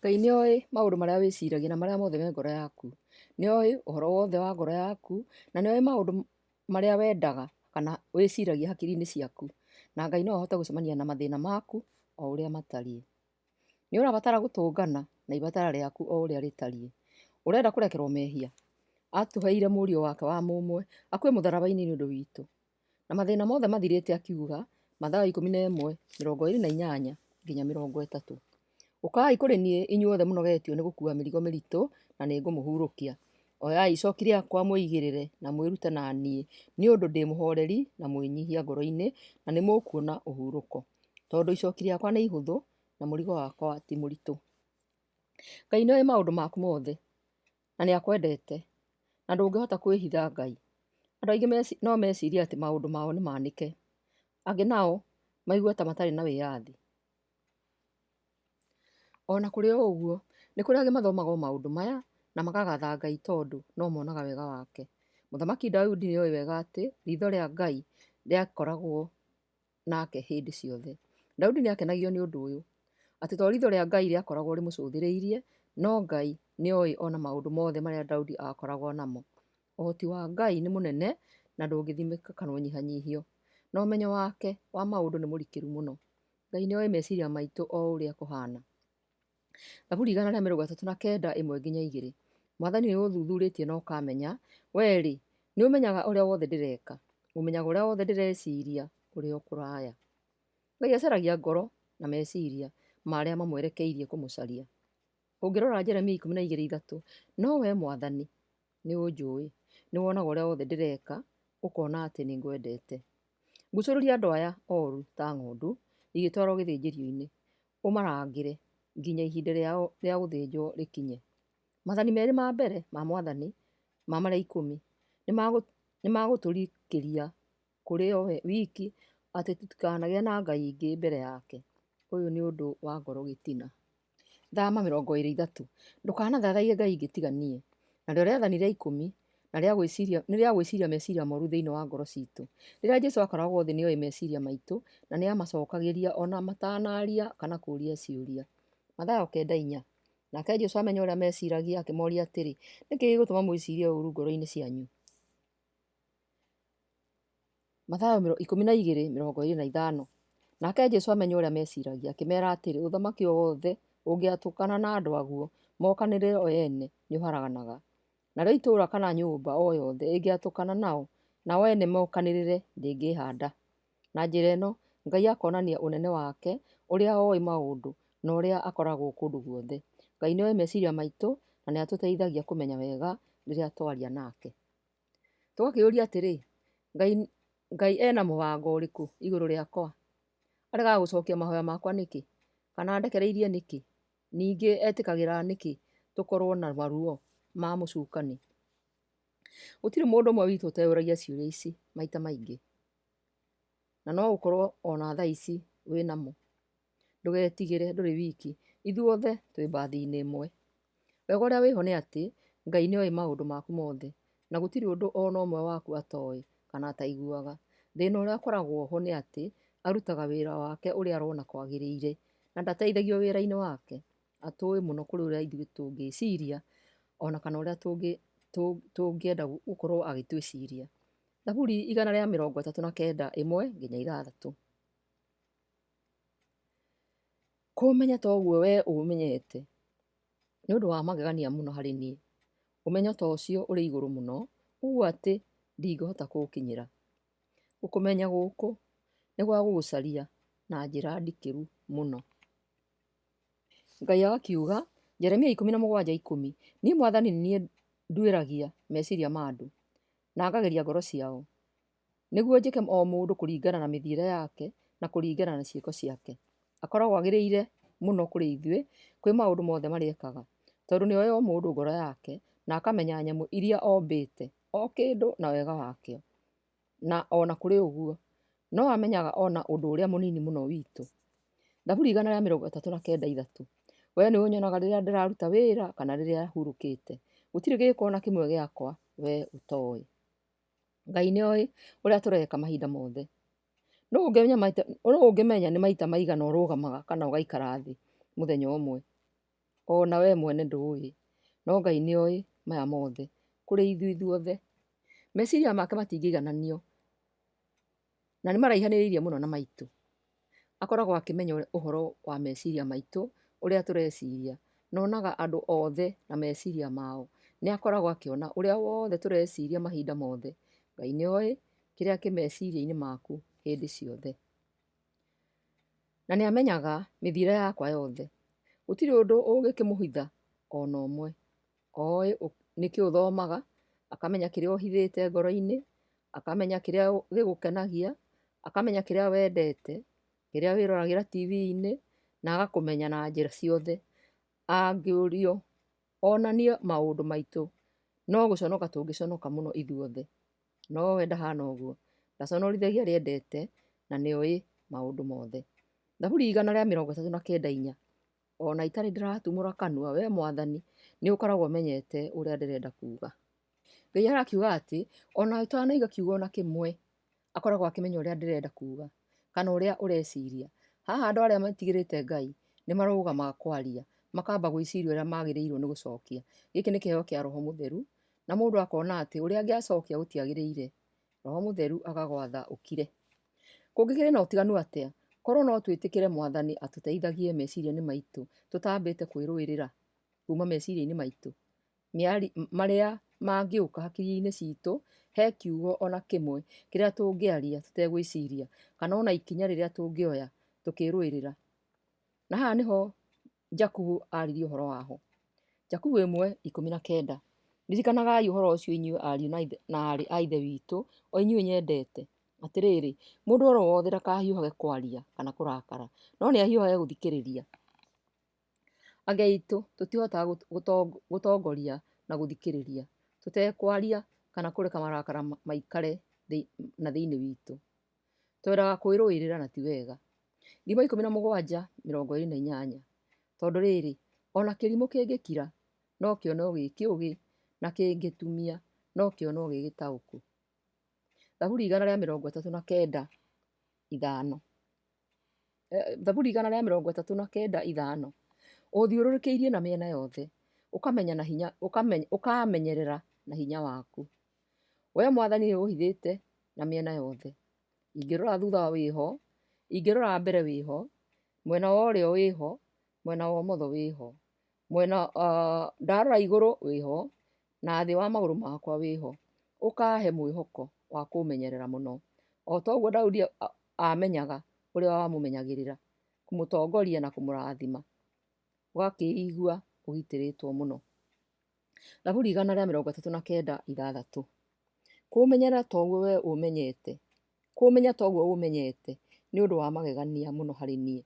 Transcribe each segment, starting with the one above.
Ngai nĩoĩ maũndũ marĩa wĩciragia na marĩa mothe me ngoro yaku. Nĩoĩ ũhoro wothe wa ngoro yaku, na nĩoĩ maũndũ marĩa wendaga kana wĩciragia hakiri-inĩ ciaku. Na Ngai no ahote gũcemania na mathĩna maku o ũrĩa matariĩ. Nĩũrabatara gũtũngana na ibatara rĩaku o ũrĩa rĩtariĩ. Ũrenda kũrekerwo mehia? Atũheire mũriũ wake wa mũmwe akue mũtharaba-inĩ nĩ ũndũ witũ. Na mathĩna mothe mathirĩte akiuga, Mathayo ikũmi na ĩmwe, mĩrongo ĩĩrĩ na inyanya nginya mĩrongo ĩtatũ. Ũkai kũrĩ niĩ inyuothe mũnogetio nĩ gũkua mĩrigo mĩritũ, na nĩngũmũhurũkia. Oyai icoki rĩakwa mwĩigĩrĩre, na mwĩrute na niĩ, nĩ ũndũ ndĩ mũhooreri na mwĩnyihia ngoro-inĩ, na nĩmũkuona ũhurũko. Tondũ icoki rĩakwa nĩ ihũthũ, na mũrigo wakwa ti mũritũ. Ngai nĩoĩ maũndũ maku mothe. na nĩ akwendete, na ndũngĩhota kwĩhitha Ngai. Andũ aingĩ no mecirie atĩ maũndũ mao nĩ manĩke, angĩ nao maigue ta matarĩ na wĩyathi. Ona kũrĩ o ũguo, nĩ kũrĩ angĩ mathomaga o maũndũ maya na makagatha Ngai tondũ no monaga wega wake. Mũthamaki Daudi nĩ oĩ wega atĩ ritho rĩa Ngai rĩakoragwo... nake hĩndĩ ciothe. Daudi nĩ aakenagio nĩ ũndũ ũyũ, atĩ to riitho rĩa Ngai rĩakoragwo rĩmũcũthĩrĩirie, no Ngai nĩ oĩ o na maũndũ mothe marĩa Daudi aakoragwo namo. Ũhoti wa Ngai nĩ mũnene na ndũngĩthimĩka kana ũnyihanyihio, na ũmenyo wake wa maũndũ nĩ mũrikĩru mũno. Ngai nĩ oĩ meciria maitũ o ũrĩa kũhaana. Thaburi igana rĩa mĩrongo ĩtatũ na kenda ĩmwe nginya igĩrĩ. Mwathani nĩ ũthuthurĩtie na ũkamenya, wee-rĩ, nĩ ũmenyaga ũrĩa wothe ndĩreka, ũmenyaga ũrĩa wothe ndĩreciria ũrĩ o kũraya. Ngai acaragia ngoro na meciria ma arĩa mamwerekeirie kũmũcaria. Ũngĩrora Jeremia ikũmi na igĩrĩ ithatũ, no wee Mwathani nĩ ũnjũĩ, nĩ wonaga ũrĩa wothe ndĩreka, ũkona atĩ nĩ ngwendete. Ngucũrũria andũ aya oru ta ng'ondu igĩtwarwo gĩthĩnjĩrio-inĩ, ũmarangĩre nginya ihinda rĩao rĩa gũthĩnjwo rĩkinye. Mathani merĩ ma mbere ma mwathani ma marĩa ikũmi nĩ magũtũrikĩria kũrĩ o we wiki atĩ tũtikanagĩe na ngai ingĩ mbere yake. Ũyũ nĩ ũndũ wa ngoro gĩtina. Thama mĩrongo ĩrĩ ithatũ, ndũkanathathaiye ngai ingĩ tiga niĩ. Narĩo rĩathani rĩa ikũmi na rĩa gwĩciria, nĩ rĩa gwĩciria meciria moru thĩinĩ wa ngoro citũ. Rĩrĩa Jesu akoragwo thĩ nĩoĩ meciria maitũ na nĩ amacokagĩria ona matanaria kana kũũria ciũria. Mathayo kenda inya. Nake Jesu amenya ũrĩa meciragia akĩmoria atĩrĩ, nĩkĩ gĩgũtũma mwĩcirie ũru ngoro-inĩ cianyu? Mathayo mĩro- ikũmi na igĩrĩ mĩrongo ĩrĩ na ithano. Nake Jesu amenya ũrĩa meciragia akĩmera atĩrĩ, ũthamaki o wothe ũngĩatũkana na andũ aguo mokanĩrĩre o ene nĩ ũharaganaga. Narĩo itũũra kana nyũmba o yothe ĩngĩatũkana nao, nao ene mokanĩrĩre, ndĩngĩĩhanda. Na njĩra ĩno, Ngai akonania ũnene wake, ũrĩa oĩ maũndũ, na ũrĩa akoragwo kũndũ guothe. Ngai nĩoĩ meciria maitũ, na nĩ atũteithagia kũmenya wega rĩrĩa twaria nake. Tũgakĩũria atĩrĩ, Ngai, Ngai ena mũbango ũrĩkũ igũrũ rĩakwa? Aregaga gũcokia mahoya makwa nĩkĩ? Kana andekereirie nĩkĩ? Ningĩ etĩkagĩra nĩkĩ tũkorwo na maruo ma mũcukani? Gũtirĩ mũndũ ũmwe witũ ũteyũragia ciũria ici maita maingĩ, na no ũkorwo ona thaa ici wĩnamo. Ndũgetigĩre ndũrĩ wiki, ithuothe twĩ mbathi-inĩ ĩmwe. Wega ũrĩa wĩho nĩ atĩ, Ngai nĩoĩ maũndũ maku mothe, na gũtirĩ ũndũ o na ũmwe waku atoĩ kana ataiguaga. Thĩna ũrĩa ũkoragwo ho nĩ atĩ arutaga wĩra wake ũrĩa arona kwagĩrĩire na ndateithagio wĩra-inĩ wake. Atũĩ mũno kũrĩ ũrĩa ithuĩ tũngĩciria o na kana ũrĩa tũngĩenda gũkorwo agĩtwĩciria. Thaburi igana rĩa mĩrongo ĩtatũ na kenda ĩmwe nginya ithathatũ. Kũũmenya ta ũguo wee ũũmenyete, nĩ ũndũ wa magegania mũno harĩ niĩ. Ũmenyo ta ũcio ũrĩ igũrũ mũno ũũ atĩ ndingĩhota kũũkinyĩra. Gũkũmenya gũkũ nĩ gwa gũgũcaria na njĩra ndikĩru mũno. Ngai agakiuga, Jeremia ikũmi na mũgwanja ikũmi, Niĩ mwathani nĩ niĩ nduĩragia meciria ma andũ, na ngageria ngoro ciao. nĩguo njĩke o mũndũ kũringana na mĩthiĩre yake, na kũringana na ciĩko ciake. Akoragwo agĩrĩire mũno kũrĩ ithuĩ, kwĩ maũndũ mothe marĩa ekaga, tondũ nĩoĩ o mũndũ ngoro yake, na akamenya nyamũ iria ombĩte, o kĩndũ na wega wakĩo. Na ona kũrĩ ũguo, no amenyaga ona ũndũ ũrĩa mũnini mũno witũ. Thaburi igana rĩa mĩrongo ĩtatũ na kenda ithatũ, We nĩũnyonaga rĩrĩa ndĩraruta wĩra, kana rĩrĩa hurũkĩte, gũtirĩ gĩĩko ona kĩmwe gĩakwa we ũtoĩ. Ngai nĩ oĩ ũrĩa tũreka mahinda mothe. Nũũ ũngĩmenya nĩ maita maigana ũrũgamaga kana ũgaikara thĩ mũthenya ũmwe? O na wee mwene ndũũĩ, no Ngai nĩ oĩ maya mothe kũrĩ ithuĩ ithuothe. Meciria make matingĩigananio. na nĩ maraihanĩrĩirie mũno na maitũ. Akoragwo akĩmenya ũhoro wa meciria maitũ, ũrĩa tũreciria, na onaga andũ othe na meciria mao. Nĩ akoragwo akĩona ũrĩa wothe tũreciria mahinda mothe. Ngai nĩ oĩ kĩrĩa kĩ meciria-inĩ maku hĩndĩ ciothe. Na nĩ amenyaga mĩthiĩre yakwa yothe. Gũtirĩ ũndũ ũngĩkĩmũhitha ona ũmwe. Oĩ nĩkĩ ũthomaga, akamenya kĩrĩa ũhithĩte ngoro-inĩ, akamenya kĩrĩa gĩgũkenagia, akamenya kĩrĩa wendete, kĩrĩa wĩroragĩra tibi-inĩ, na agakũmenya na njĩra ciothe. Angĩũrio onanie maũndũ maitũ, no gũconoka tũngĩconoka mũno ithuothe. No we ndahana ũguo, ndaconorithagia arĩa endete, na nĩoĩ maũndũ mothe. Thaburi igana rĩa mĩrongo ĩtatũ na kenda inya. O na itarĩ ndĩratumũra kanua, wee Mwathani, nĩ ũkoragwo ũmenyete ũrĩa ndĩrenda kuuga. Ngai arakiuga atĩ, o na ũtanaiga kiugo na kĩmwe, akoragwo akĩmenya ũrĩa ndĩrenda kuuga, kana ũrĩa ũreciria. Haha andũ arĩa matigĩrĩte Ngai, nĩ marũgamaga kwaria, makamba gwĩciria ũrĩa magĩrĩirwo nĩ gũcokia. Gĩkĩ nĩ kĩheo kĩa Roho Mũtheru, na mũndũ akona atĩ ũrĩa angĩacokia gũtiagĩrĩire, Roho Mũtheru agagwatha ũkire. Kũngĩkĩrĩ na ũtiganu atĩa, korũo no twĩtĩkĩre Mwathani atũteithagie meciria-inĩ maitũ tũtambĩte kwĩrũĩrĩra kuuma meciria-inĩ maitũ marĩa mangĩũka hakiri-inĩ citũ, he kiugo o na kĩmwe kĩrĩa tũngĩaria tũtegwĩciria, kana o na ikinya rĩrĩa tũngĩoya tũkĩrũĩrĩra. Na haha nĩho Jakubu aaririe ũhoro wa ho. Jakubu ĩmwe ikũmi na kenda. Ririkanagai ũhoro ũcio inyuĩ ariũ na ithe- na aarĩ a ithe witũ, o inyuĩ nyendete. Atĩrĩrĩ, mũndũ oro wothe ndakahiũhage kwaria kana kũrakara, no nĩ ahiũhage gũthikĩrĩria. Age aitũ tũtihotaga gũt- gũtong- gũtongoria na gũthikĩrĩria, tũtekwaria kana kũreka marakara ma- maikare thĩ- na thĩinĩ witũ. Twendaga kwĩrũĩrĩra na ti wega. Ndima ikũmi na mũgwanja mĩrongo ĩrĩ na inyanya Tondũ rĩrĩ, o na kĩrimũ kĩngĩkira, no kĩonwo gĩ kĩũgĩ, na kĩngĩtumia, no kĩonwo gĩ gĩtaũku. Thaburi igana rĩa mĩrongo ĩtatũ na kenda ithano Thaburi igana rĩa mĩrongo ĩtatũ na kenda ithano Ũũthiũrũrũkĩirie na mĩena yothe, ũkamenya na hinya ũkamenya ũkaamenyerera na hinya waku. Wee mwathani nĩ ũhithĩte na mĩena yothe. Ingĩrora thutha wĩho, ingĩrora mbere wĩho, mwena wa ũrĩo wĩho, mwena wa ũmotho wĩho, mwena uh, ndarora igũrũ wĩho na thĩ wa magũrũ makwa wĩho. Ũkahe mwĩhoko wa kũmenyerera mũno. O ta ũguo Daudi amenyaga ũrĩa wamũmenyagĩrĩra, kũmũtongoria na kũmũrathima. Ũgakĩigua ũgitĩrĩtwo mũno. Thaburi igana rĩa mĩrongo ĩtatũ na kenda ithathatũ kũũmenyera toguo we ũmenyete kũũmenya toguo ũmenyete nĩ ũndũ wa magegania mũno harĩ niĩ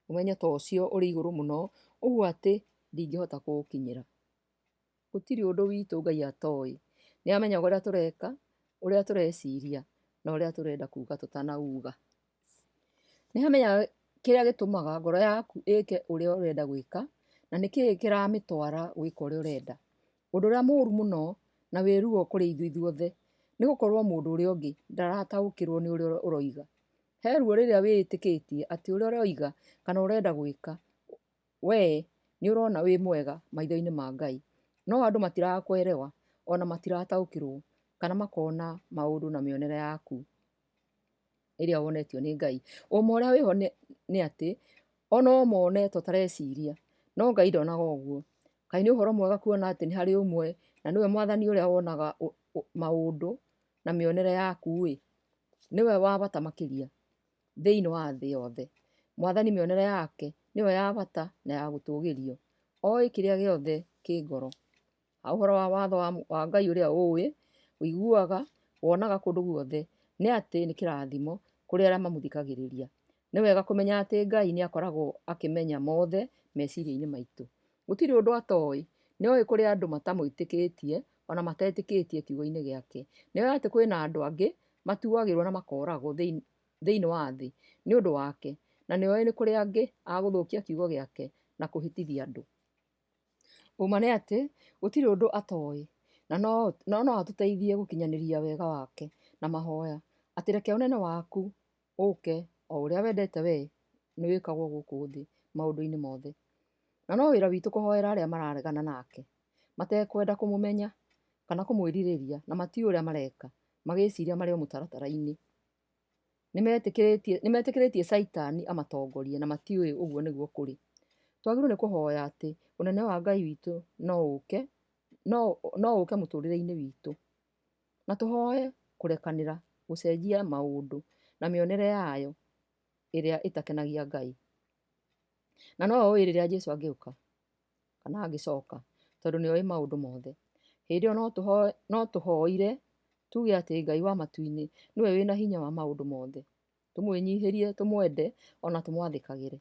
ũmenyo ta ũcio ũrĩ igũrũ mũno ũguo atĩ ndingĩhota kũũkinyĩra gũtirĩ ũndũ witũ Ngai atoĩ nĩ amenyaga ũrĩa tũreka ũrĩa tũreciria na ũrĩa tũrenda kuga tũtanauga Nĩ hamenyaga kĩrĩa gĩtũmaga ngoro yaku ĩke ũrĩa ũrenda gwĩka, na nĩ kĩĩ kĩramĩtwara gwĩka ũrĩa ũrenda. Ũndũ ũrĩa mũru mũno na wĩ ruo kũrĩ ithuĩ ithuothe, nĩ gũkorwo mũndũ ũrĩa ũngĩ ndarataũkĩrwo nĩ ũrĩa ũroiga. He ruo rĩrĩa wĩĩtĩkĩtie atĩ ũrĩa ũroiga kana ũrenda gwĩka we nĩ ũrona wĩ mwega maitho-inĩ ma Ngai. No andũ matiraga kũ elewa ona matirataũkĩrwo kana makona maũndũ na mĩonere yaku. ĩrĩa wonetio nĩ Ngai. Ũũma ũrĩa wĩho nĩ, nĩ atĩ, ona ũũma wonetwo ũtareciria, no Ngai ndonaga ũguo. Kaĩ nĩ ũhoro mwega kuona atĩ nĩ harĩ ũmwe, na nĩwe mwathani ũrĩa wonaga ũ, ũ, maũndũ na mĩonere yaku-ĩ. Nĩwe wa bata makĩria thĩiniĩ wa thĩ yothe. Mwathani mĩonere yake nĩyo ya bata na ya gũtũgĩrio. Oĩ kĩrĩa gĩothe kĩ ngoro. Ha ũhoro wa watho wa, wa Ngai ũrĩa ũĩ, ũiguaga, wonaga kũndũ guothe, nĩ atĩ nĩ kĩrathimo kũrĩ arĩa mamũthikagĩrĩria. Nĩ wega kũmenya atĩ Ngai nĩ akoragwo akĩmenya mothe meciria-inĩ maitũ. Gũtirĩ ũndũ atoĩ. Nĩ oĩ kũrĩ andũ matamwĩtĩkĩtie, ona matetĩkĩtie kiugo-inĩ gĩake. Nĩ oĩ atĩ kwĩna andũ angĩ matuagĩrwo na makoragwo thĩinĩ, thĩinĩ wa thĩ nĩ ũndũ wake. Na nĩ oĩ nĩ kũrĩ angĩ a gũthũkia kiugo gĩake na kũhĩtithia andũ. Ũma nĩ atĩ, gũtirĩ ũndũ atoĩ, na no na no atũteithie gũkinyanĩria wega wake na mahoya, atĩ reke ũnene waku ũke, o ũrĩa wendete wee, nĩ wĩkagwo gũkũ thĩ maũndũ-inĩ mothe. Na no wĩra witũ kũhoera arĩa mararegana nake, matekwenda kũmũmenya, kana kũmwĩrirĩria, na matiũĩ ũrĩa mareka, magĩciria marĩ o mũtaratara-inĩ. nĩmetĩkĩrĩtie nĩmetĩkĩrĩtie caitani amatongorie na matiũĩ ũguo nĩguo kũrĩ twagĩrĩirwo nĩ kũhoya atĩ ũnene wa ngai witũ no ũke no no ũke mũtũrĩre-inĩ witũ na tũhoe kũrekanĩra gũcenjia maũndũ na mĩonere yayo ĩrĩa ĩtakenagia ngai na no ũĩ rĩrĩa jesũ angĩũka kana angĩcoka, tondũ nĩoĩ maũndũ mothe. Hĩndĩ ĩyo no tũhoe, no tũhoire tuge atĩ Ngai wa matu-inĩ nĩwe wĩna hinya wa maũndũ mothe, tũmwĩnyihĩrie, tũmwende ona tũmwathĩkagĩre.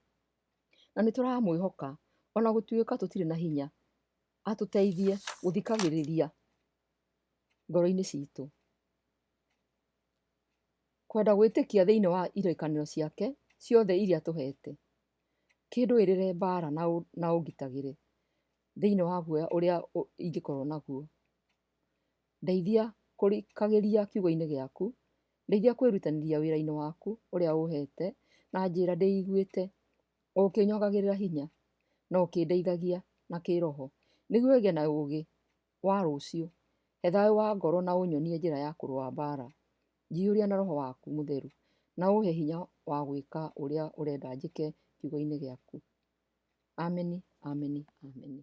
Na nĩtũramwĩhoka ona gũtuĩka tũtirĩ na hinya, atũteithie gũthikagĩrĩria ngoro-inĩ citũ. Kwenda gwĩtĩkia thĩiniĩ wa irekania ciake ciothe iria atũhete. kĩndũĩrĩre mbara na ũngitagĩre thĩinĩ wa guoya ũrĩa ingĩkorwo naguo. Ndeithia kũrikagĩria kiugo-inĩ gĩaku, ndeithia kwĩrutanĩria wĩra-inĩ waku ũrĩa ũhete, na njĩra ndĩiguĩte, o ũkĩnyongagĩrĩra hinya, na ũkĩndeithagia na kĩĩroho, nĩguo ngĩe na ũũgĩ. wa rũciũ, he thayũ wa ngoro na ũnyonie njĩra ya kũrũa mbaara. Njiyũria na roho waku mũtheru, na ũhe hinya wa gwĩka ũrĩa ũrenda njĩke kiugo-inĩ gĩaku. Ameni, ameni, ameni.